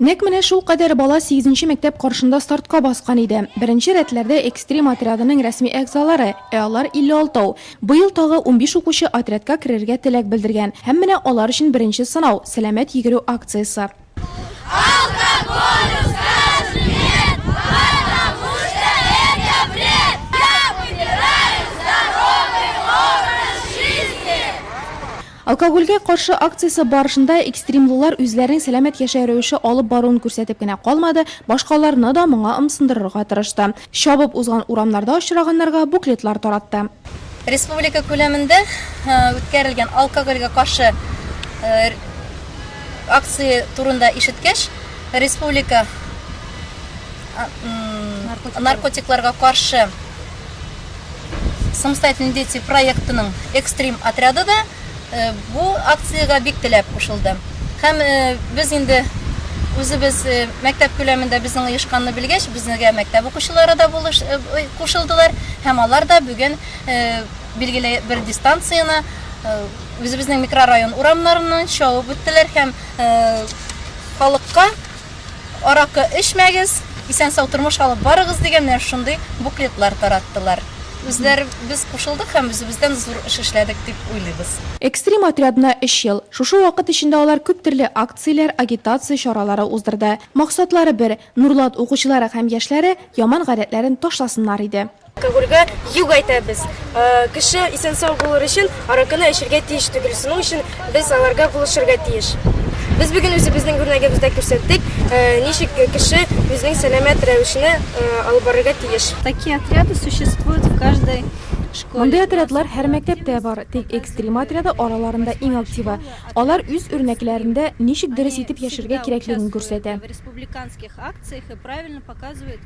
Нәкъ менә шулкадәр бала сигезенче мәктәп каршында стартка баскан иде. Беренче рәтләрдә экстрим отрядының рәсми әгъзалары, ә алар 56 ау. Быел тагы унбиш укучы отрядка керергә теләк белдергән. Һәм менә алар өчен беренче сынау, сәламәт йөгерү акциясе. Алга полюска смерть, Патамушта это бред, Я выбираю здоровый образ жизни! Алкогольгә каршы акциясе барышында экстримлылар үзләренең сәламәт яшәү рәвеше алып баруын күрсәтеп кенә калмады, башкаларны да моңа ымсындырырга тырышты. Чабып узган урамнарда очраганнарга буклетлар таратты. Республика күләмендә үткәрелгән алкогольгә каршы акция турында ишеткәч, республика наркотикларга каршы Самостоятельные дети проектының экстрим отряды да бу акциягә бик теләп кушылды. Һәм без инде үзебез мәктәп күләмендә безнең оешканны белгәч, безнегә мәктәп укучылары да булыш кушылдылар һәм алар да бүген билгеле бер дистанцияне үзебезнең микрорайон урамнарыннан чабып үттеләр һәм халыкка аракы эчмәгез, исән-сау тормыш алып барыгыз дигән менә шундый буклетлар тараттылар. Үзләребез кушылдык һәм үзебездән зур эш эшләдек дип уйлыйбыз. Экстрим отрядына өч ел. Шушы вакыт эчендә алар күп төрле акцияләр, агитация чаралары уздырды. Максатлары бер, Нурлат укучылары һәм яшьләре яман гадәтләрен ташласыннар иде. Алкогольгә юк әйтәбез. Кеше исән-сау булыр өчен аракыны эчергә тиеш түгел. Шуның өчен без аларга булышырга тиеш. Без бүген үзебезнең үрнәгебездә күрсәттек, ничек кеше үзенең сәламәт рәвешне алып барырга тиеш. Такие отряды существуют в каждой школе. Мондый отрядлар һәр мәктәптә бар, тик экстрим отряды араларында иң активы. Алар үз үрнәкләрендә ничек дөрес итеп яшәргә кирәклеген күрсәтә.